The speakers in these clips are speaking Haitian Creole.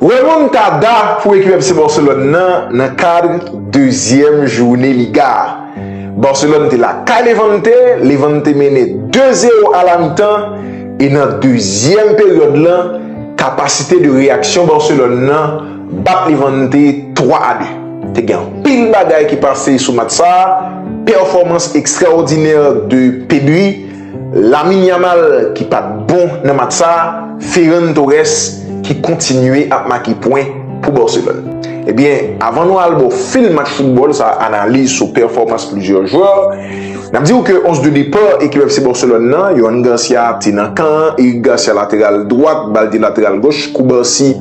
Remontada pou ekip FC Barcelone nan nan kadr dezyèm joune Liga a. Barcelone te lakay Levante, Levante mennen 2 zero a la mitan e nan dezyèm peryòd lan kapasite de reyaksyon Barcelone nan bat Levante 3 a 2. Te gen anpil bagay ki pase sou match sa, pèfòmans ekstraòdinè de Pedri, Lamine Yamal ki pat bon nan match sa, Ferran Torres ki kontinye ap make pwen pou Barcelone. Ebyen, avan nou al bò fil match foutbòl sa analiz sou pèfòmans plizyè jwè, nap diw ke 11 de depart ekip FC Barcelone nan, Yohan Garcia te nan kan an, Eric Garcia lateral dwat, Baldé lateral goch, Cubarsí,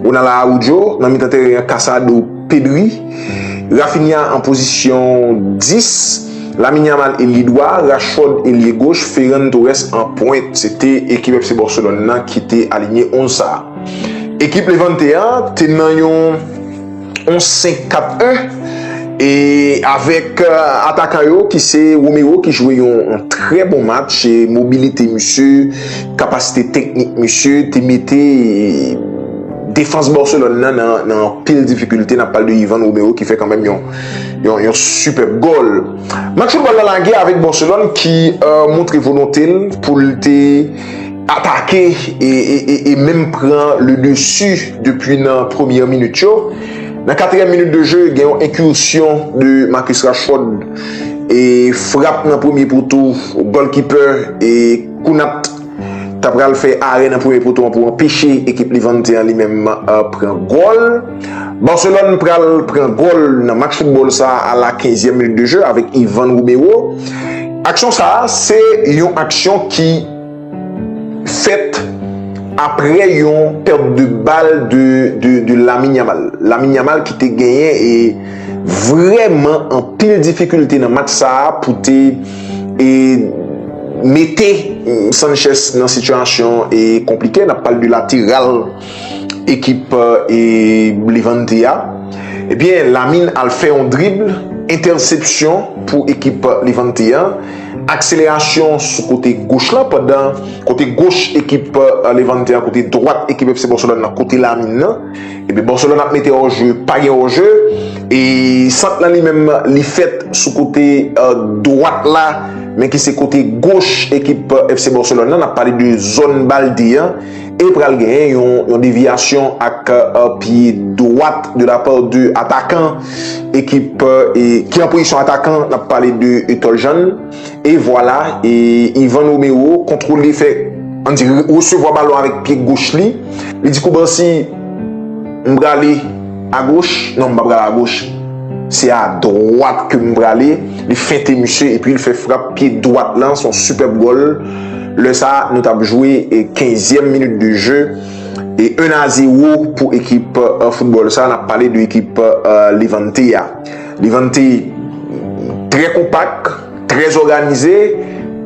Ronald Araujo, nan mitan tèren an Casado, Pedri, Raphinha an pozisyon 10. Lamine Yamal eli dwa, Rashford elye goch, Ferran Torres an pwent. Se te ekip FC Barcelone nan ki te alinye 11 sa. Ekip Levante an te nan yon 11 5 4 1 e avèk atakan yo ki se Romero ki jwe yon trè bon match e mobilite misye, kapasite teknik misye te mete defans Barcelone nan nan anpil difikilte, nap pale de Yvan Romero ki fè kanmenm yon Yon yon superbe gol. Match football la lage avèk Barcelone ki euh, montre volonte l pou l te atake e, e, e, e menm pran le dessus depi nan premyè minit yo. Nan katriyèm minit de jeu gen yon incursion de Marcus Rashford e frap nan premye poto golkeeper e Kounat ta pral fè arè nan premye poto an pou anpeche ekip Levante an li menm pran gòl. Barcelone pral pran gòl nan match football sa a la 15 e minit de jeu avèk Ivan Romero. Aksyon sa a se yon aksyon ki fèt aprè yon perte de balle de Lamine Yamal. Lamine Yamal ki te genyen e vrèman anpil difikilte nan match sa a pou te e mete Sanchez nan sitiyasyon e konplike nap pale de lateral ekip e Levante a ebyen Lamine al fè yon drible entèsepsyon pou ekip Levante an akselerasyon sou kote goch lan pandan kote goch ekip Levante a kote dwat ekip FC Barcelone nan kote Lamine nan. Epi Barcelone ap mete hors jeu, pa gen hors jeu e sant lan li menm li fèt sou kote dwat la men ki se kote goch ekip FC Barcelone nan, n ap pale de zòn Balde an e pral genyen yon devyasyon ak pye dwat de la pa de atakan ekip ki an pozisyon atakan, n ap pale de Etol Jean. E vwala, e Ivan Romero kontwole fè, an di resevwa balon avèk pye goch li. Li di Koubansi, m prale a goch, non m pa prale a goch, se a dwat ke m prale. Li fente misye epi li fè frap pye dwat lan, son sipèb gòl. Lè sa nou t ap jwe kenzyèm minit de je, e 1 a 0 pou ekip foutbòl sa, n ap pale de ekip Levante a. Levante trè konpak, trè zoganize,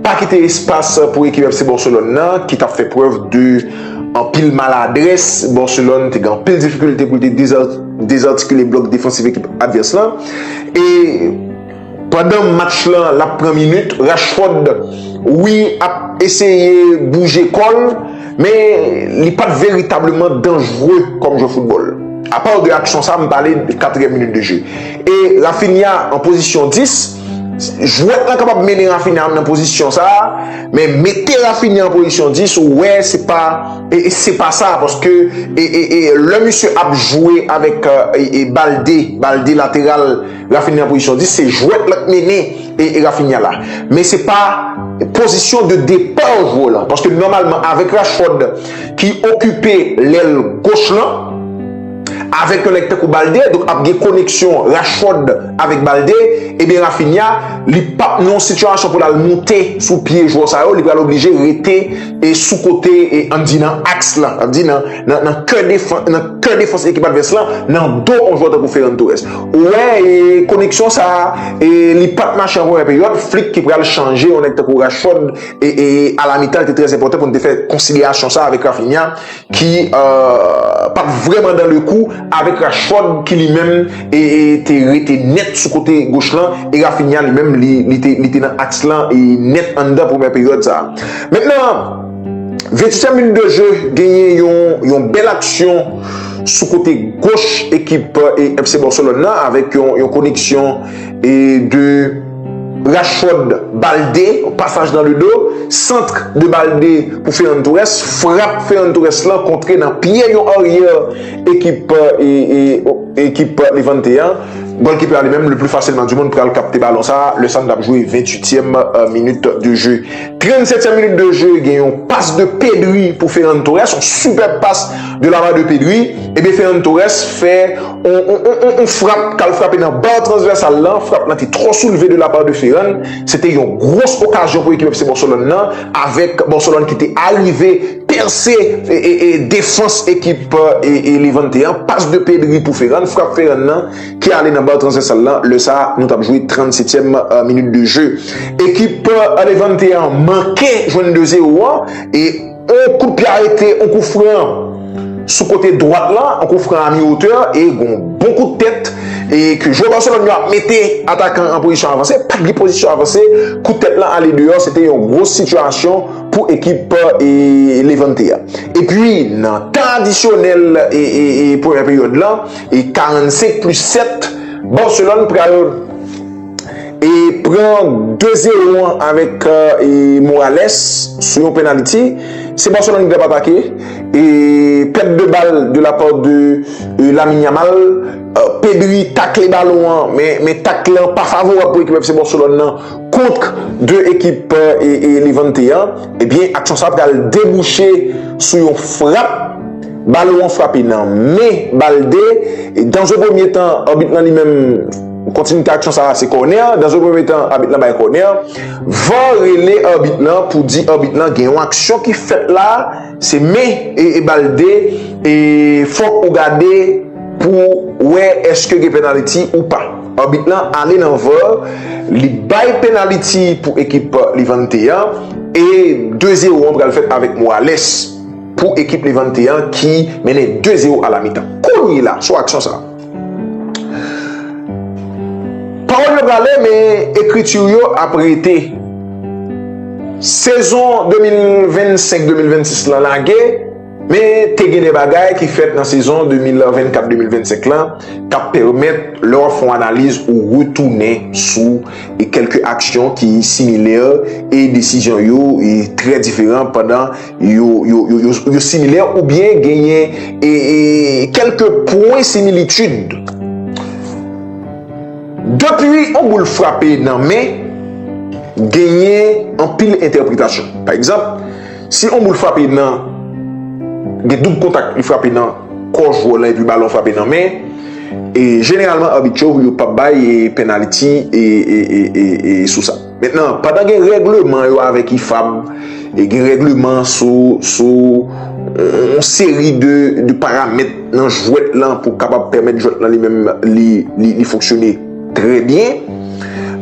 pa kite espas pou ekip FC Barcelone nan ki tap fè prèv de anpil maladrès. Barcelone te gen anpil difikilte pou li te dezartikile blòk defansif ekip advès lan. E pandan match lan lap pran minit, Rashford wi ap eseye bouje kòl. Men li pa t veritableman danjre kòm jwè foutbòl. Apa w de aksyon sa m pale de katriyèm minit de je. E Raphinha an pozisyon 10, jwèt lan kapab mennen Raphinha nan pozisyon sa, men mete Raphinha an pozisyon 10 ou wè se pa se pa sa paske lè misye ap jwe avèk Balde, Balde lateral, Rafinha nan pozisyon 10, se jwèt la k mennen Rafinha la. Men se pa pozisyon de depa w jwè w lan. Paske nòmalman avèk Rashford ki okipe lèl goch lan, avèk yon nèg tankou Balde, donk ap gen koneksyon Rashford avèk Balde, ebyen Rafinha li pap nan yon sitiyasyon pou l al moute sou pye jwè sa yo, li pral oblije rete. e sou kote e an di nan aks lan, an di nan nan kè defans nan kè defans ekip advès lan nan do yon jwè tankou Ferran Torres. Ou wè e koneksyon sa a e li pat mache an premyè peryòd, Flick ki pral chanje yon nèg tankou Rashford e e a la mitan li te trè enpòtan pou nou te fè konsiderasyon sa a avèk Raphinha ki pat vrèman dan le kou avèk Rashford ki li menm te rete nèt sou kote goch lan e Raphinha li menm li te nan aks lan nèt anndan premyè peryòd sa. Mèt nan 28 èm minit de je genyen yon bèl aksyon sou kote goch ekip FC Barcelone nan avèk yon koneksyon E de Rashford Balde, yon pasaj nan le do, centre de Balde pou Ferran Torres, frap Ferran Torres lan kontre nan pye yon aryè ekip ekip Levante an. Gòlkipè a li menm le pli fasilman du mond pral kapte balon sa a, lè sa nou tap jwe 28 tièm minit de jeu. 37 tièm minit de jeu gen yon pas de Pedri pou Ferran Torres, yon sipèb pas. De la part de Pedri, ebyen Ferran Torres fè yon frap kal frape nan bar transversal lan, frap lan te trò soulve de la part de Ferran, se te yon gros okazyon pou ekip FC Barcelone lan avèk Barcelone ki te arive pèse defans ekip Levante an, pas de Pedri pou Ferran, frap Ferran lan ki ale nan bar transversal lan, lè sa nou tap jwe 37 tièm minute de jeu. Ekip Levante an manke jwenn 2 zero an e. On kout pye arete, on kou fran sou kote dwat la, on kou fran a mi otè e gon bon kout tèt e ke jwè Barcelone yo ap mete atakan an pozisyon avanse, pat gen pozisyon avanse, kout tèt lan ale deyò, se te yon gwo sitiyasyon pou ekip Levante a. Epi nan tan adisyonèl premyè peryòd lan, 45 plis 7, Barcelone pral. e pran 2 zero an avèk Morales sou yon penaliti se Barcelone ki tap atake e pèt de bal de la part de Lamine Yamal Pedri takle balon an men takle lan pa favorab pou ekip FC Barcelone lan kontr 2 ekip Levante an ebyen aksyon sa pral debouche sou yon frap balon an frape nan men Balde e dans un premier temps arbit lan li menm Kontinite aksyon sa a se kònè, dans un premye tan abit lan bay kònè, var rele abit lan pou di abit lan gen yon aksyon ki fèt la se men e bal 2 e fòk ou gade pou ou wè eske gen penaliti ou pa. Abit lan ale nan var li bay penaliti pou ekip Levante an e 2 zero an pral fèt avèk Morales pou ekip Levante an ki mennen 2 zero a la mitan. Kounye la sou aksyon sa a. Pawòl yo prale men ekriti w yo ap rete. Sezon 2025, 2026 lan lage men te gen de bagay ki fèt nan sezon 2024, 2025 lan k ap pèmèt lè w ap fè yon analiz ou retounen sou kèlke aksyon ki similè e desizyon yo trè diferan pandan yo similè oubyen genyen kelke pwen similitid. Depi yon boul frape nan men, genyen anpil entèpretasyon. Pa egzanp, si yon boul frape nan, gen doub kontak li frape nan kò jwè w lan epi balon frape nan men, jeneralman abit yo, yo pap bay penaliti sou sa. Mentnan, pandan gen règleman yo avèk IFAB, e gen règleman sou, sou yon seri de, de paramèt nan jwèt lan pou kapab pèmèt jwèt lan li menm li, li, li fonksyone trè byen,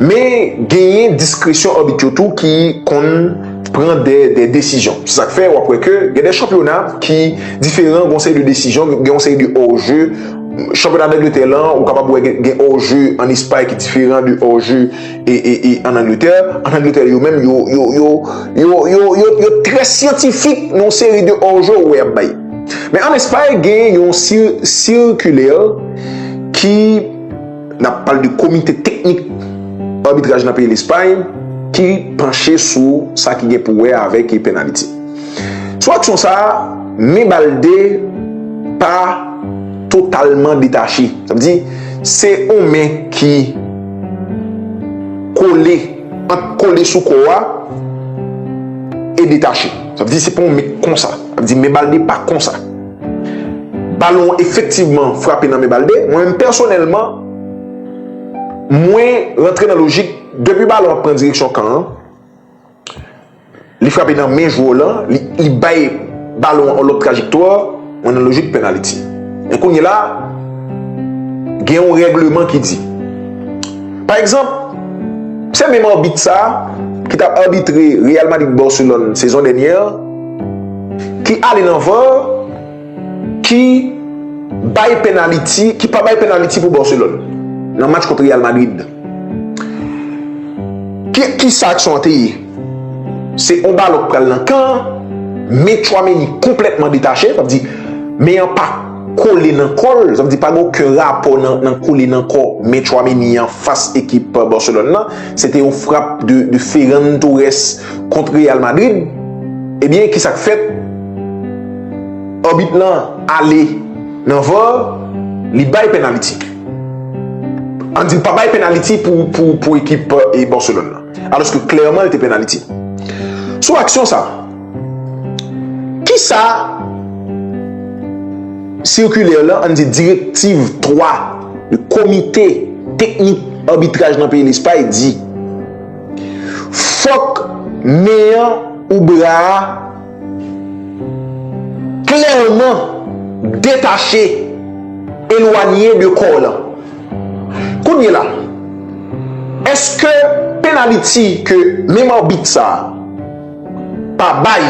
men genyen diskresyon abit yo tou ki konn pran dè, dè desizyon. Se sa k fè w ap wè ke gen dè chanpyona ki diferan, gen yon seri de desizyon, gen yon seri de hors jeu, chanpyona Dangletè lan, ou kapab wè gen, gen hors jeu ann Espay ki diferan de hors jeu en Angleterre, en Angleterre yo menm yo yo yo yo yo yo yo trè syantifik nan seri de orjo ou wè yap bay. Men an Espay gen yon circulaire ki nap pale de komite teknik arbitraj nan peyi Lespay ki panche sou sa ki gen pou wè avèk e penaliti. Sou aksyon sa, men Balde pa totalman detache. Sa vle di se yon men ki Kole, ant kole sou kò a e detache. Sa vle di se pa yon men konsa. Sa vle di men Balde pa konsa. Balon an efektivman frape nan men Balde. Mwen menm pèsonèlman, mwen rantre nan lojik depi balon an pran direksyon kan an, Li frape nan men jwè w lan, li bay balon an yon lòt trajektwa, mwen nan lojik penaliti. Men kounye la, gen yon règleman ki di. Pa egzanp, se menm abit sa a ki t ap abitre Real Madrid-Barcelone sezon dènyè an, ki ale nan var, ki bay penaliti, ki pa bay penaliti pou Barcelone nan match kont Real Madrid. Ki sa aksyon an te ye? Se yon balon ki pral nan kan an, men Tchouameni konplètman detache, sa vle di men an pa kole nan kò l, sa vle di pa gen oken rapò nan kole nan kò men Tchouameni an fas ekip Barcelone nan, se te yon frap de Ferran Torres kont Real Madrid, ebyen ki sa k fèt? Abit lan ale nan var, li bay pennaliti. Ann di l pa bay penaliti pou ekip Barcelone lan. Aloske klèman l te penaliti. Sou aksyon sa, kisa sikilè lan, ann di direktiv 3 komite teknik abitraj nan peyi Lespay di? Fòk men an ou bra a. Klèman, detache, elwanye de kò w lan. Kounyela, èske penaliti ke menm arbit sa a pa bay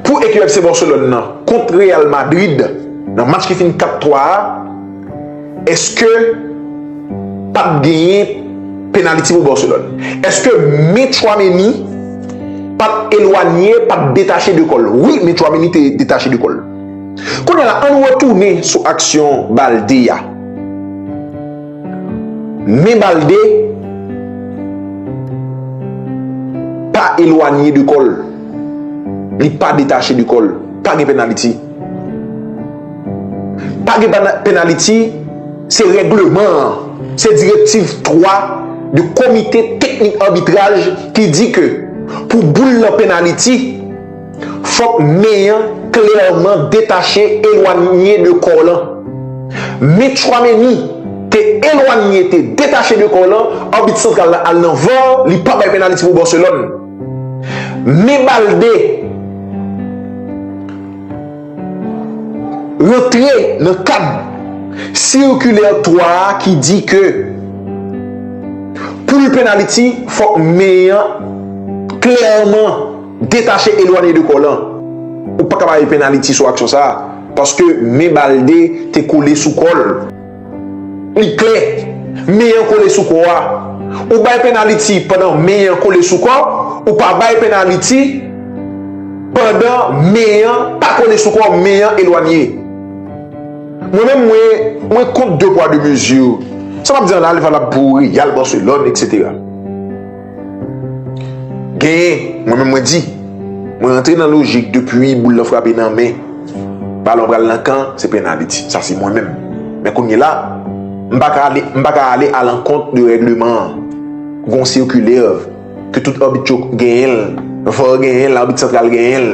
pou ekip FC Barcelone nan kont Real Madrid nan match ki fini 4-3 a, Eske pap genyen penaliti pou Barcelone? Eske men Tchouaméni pat elwanye, pat detache de kòl? Wi, men Tchouaméni te detache de kòl. Kounye la, ann retounen sou aksyon Balde a. Men Balde pa elwanye de kòl. Li pa detache de kòl. Pa gen penaliti. Pa gen penaliti, se regleman an. Se direktiv 3 de komite teknik anbitraj ki di ke pou boul lan penaliti, fòk men an klèman detache, elwanye de kò lan. Men Tchouameni te elwanye, te detache de kò lan, anbit santral la al nan var, li pa bay penaliti pou Barcelone. Men Balde rantre nan kad sikilè 3 a ki di ke pou li penaliti fòk men an klèman detache elwanye de kò lan. Ou pa ka ba li penaliti sou aksyon sa a paske men Balde te kole sou kò l. Li klè, men an kole sou kò a. Ou bay pennaliti pandan men an kole sou kò, ou pa bay pennaliti pandan men an pa kole sou kò, men an elwanye. Mwen menm mwen, mwen kont de pwa de mezi. Sa m ap di an la li valab pou Real, Barcelone, etc. Genyen, mwen menm mwen di, mwen rantre nan lojik depi boul lan frape nan men, balon pral nan kan, se pennaliti. Sa se mwen menm. Men kounye la, m pa ka ale, m pa ka ale alankont de règleman an. Gon sikilè ke tout abit yo genyen l, var genyen l, abit santral genyen l.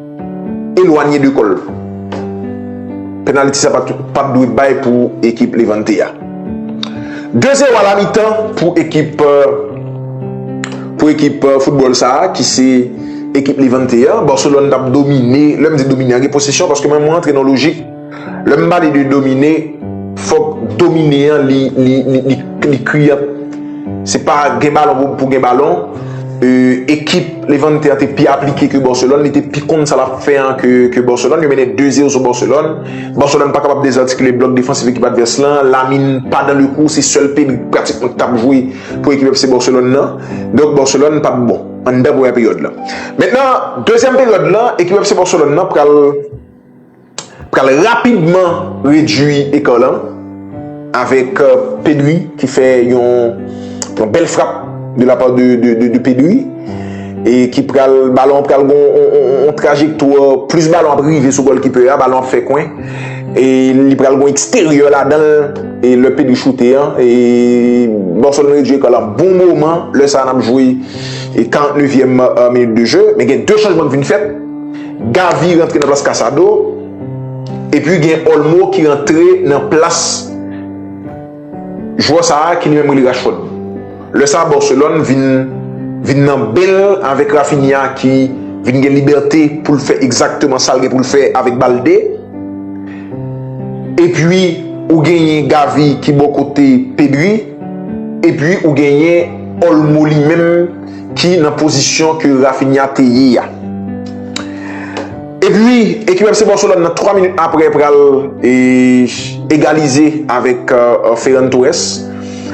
Elwanye de kòl. Penaliti sa pat dwe bay pou ekip Levante a. 2 zero a la mitan pou ekip pou ekip foutbòl sa ki se ekip Levante a. Barcelone tap domine. Lè m di domine an gen posesyon paske mwen antre nan lojik. Lè m pale de domine, fòk domine an li kriyan. Se pa gen balon pou gen balon. Ekip Levante an te pi aplike ke Barcelone. Li te pi konn sa l ap fè an ke Barcelone. Yo mennen 2 zero sou Barcelone. Barcelone pa kapab dezartikile blòk defansif ekip advès lan. Lamine pa dan le kou. Se sèl Pedri pratikman ki t ap jwe pou ekip FC Barcelone lan. Donk Barcelone pa t bon anndan premyè peryòd lan. Mentnan dezyèm peryòd lan ekip FC Barcelone lan pral. pral rapidman redui ekò lan avèk euh, Pedri ki fè yon yon bèl frap de la part de Pedri e ki pral balon pral gon on trajektò plus balon ap rive sou golkiper a balon ap fè kwen e li pral gon eksteryè ladan e le Pedri choute an e Barcelone redui ekò lan bon moman lè sa nan ap jwe 49 yèm minit de jeu men gen 2 chanjman ki vin fèt Gavi rantre nan plas Casado epi gen Olmo ki rantre nan plas jwè sa a ki li menm rele Rashford. Lè sa a Barcelone vin vin nan ben l avèk Raphinha ki vin gen libète pou l fè egzakteman sa l gen pou l fè avèk Balde. Epi ou genyen Gavi ki bò kote Pedri epi ou genyen Olmo li menm. ki nan pozisyon ke Raphinha te ye a. Epi, ekip FC Barcelone nan 3 minit apre pral egalize avèk Ferran Torres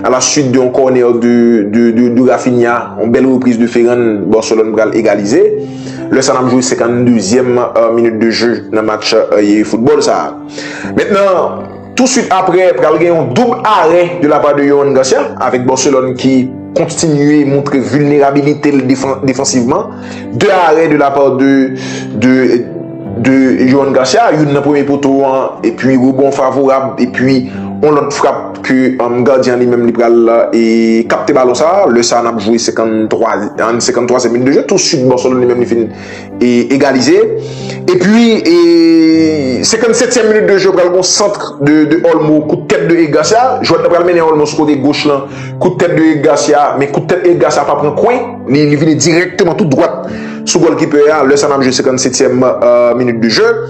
a la suite de yon kònè de Raphinha, yon bèl repriz de Ferran, Barcelone pral egalize. Lè sa nap jwe 52 zièm minit de jeu nan match football sa. Mentnan, Tou swit apre pral gen yon doub arè de la pa de Yohan Garcia avèk Barcelone ki kontinye moutre vilnerabilite l defansivman. 2 arè de la pa de Yohan Garcia, youn nan premye poto an epi rebon favorab epi yon lòt frap ke gadyen an li menm li pral kapte balon sa. Lè sa nap jwe 53 e minit de jwe tou swit Barcelone li menm li fin. e egalize e pi e 57 e minit de jeu pral gon centre de olmo kout tèt de Eric Garcia jwèt nan pral mennen olmo sou kote goch lan kout tèt de Eric Garcia men kout tèt Eric Garcia pa pran kwen li vini direkteman tout dwat sou golkipe a lè sa nap jwe 57 e minit de jeu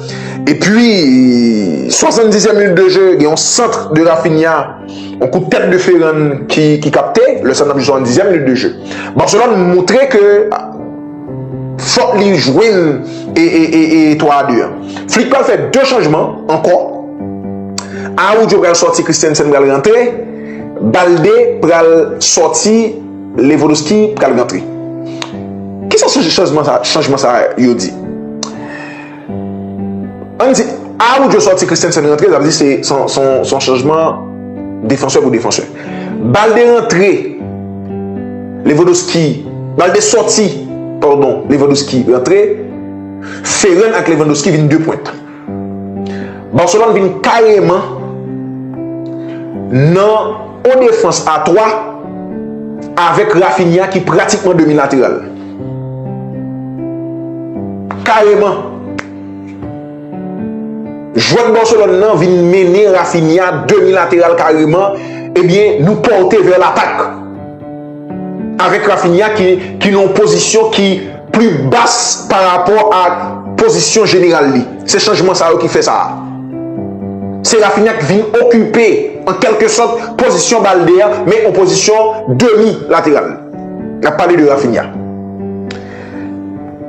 e pi 70 e minit de jeu gen yon centre de Rafinha yon kout tèt de Ferran ki kapte lè sa nap jwe 70 e minit de jeu Barcelone moutre ke Fok li jwenn etwa a 2 an. Flick pral fè 2 chanjman ankò. Araujo pral sòti Christensen pral rantre. Balde pral sòti Lewandowski pral rantre. Kisa chanjman sa yo di? Ann di, Arojo sòti Christensen rantre, sa vle di se son chanjman defansè pou defansè. Balde rantre, Lewandowski, Balde sòti, pardon, Lewandowski rantre, Ferran ak Lewandowski vin 2 pwent. Barcelone vin kareman nan on defans a 3 avèk Raphinha ki pratikman demi lateral. Kareman! Jwèt Barcelone nan vin mennen Raphinha demi lateral kareman ebyen nou pòte vè latak. Avèk Raphinha ki nan yon pozisyon ki pli bas pa rapò a pozisyon jeneral li. Se chanjman sa yo ki fè sa a. Se Raphinha ki vin okipe an kèlke sòt pozisyon Balde a men an pozisyon demi lateral. Nap pale de Raphinha.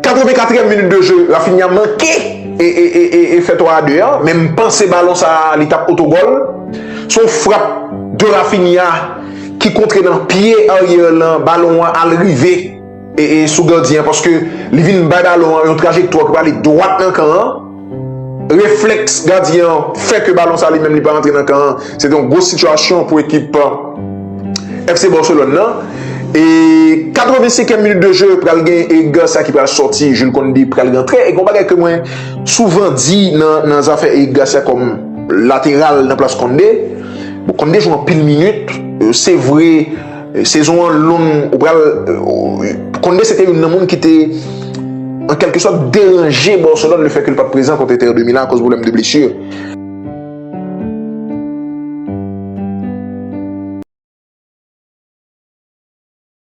84 èm minit de jeu Raphinha manke e fè 3 a 2 an. Men m panse balon sa li tap oto gòl. Son frap de Raphinha ki kontre nan pye Arier lan balon an al rive sou gardyen. Paske li vin bay balon an yon trajektwa ki prale dwat nan kan an. Reflèks gadyen an fè ke balon sa li menm li pa rantre nan kan an. Se te yon gwo sitiyasyon pou ekip FC Barcelone nan. E 85 èm minit de je pral gen Eger sa ki pral sòti, Jules Kounde pral rantre. E gon bagay ke mwen souvan di nan zafè Eric Garcia kòm lateral nan plas Kounde. Bon Kounde jwe anpil minit, se vre. Sezon an long, ou pral Conde se te youn nan moun ki te an kèlke sòt deranje Barcelone le fè ke l pa t prezan kont Inter de Milan akoz pwoblèm de blesur.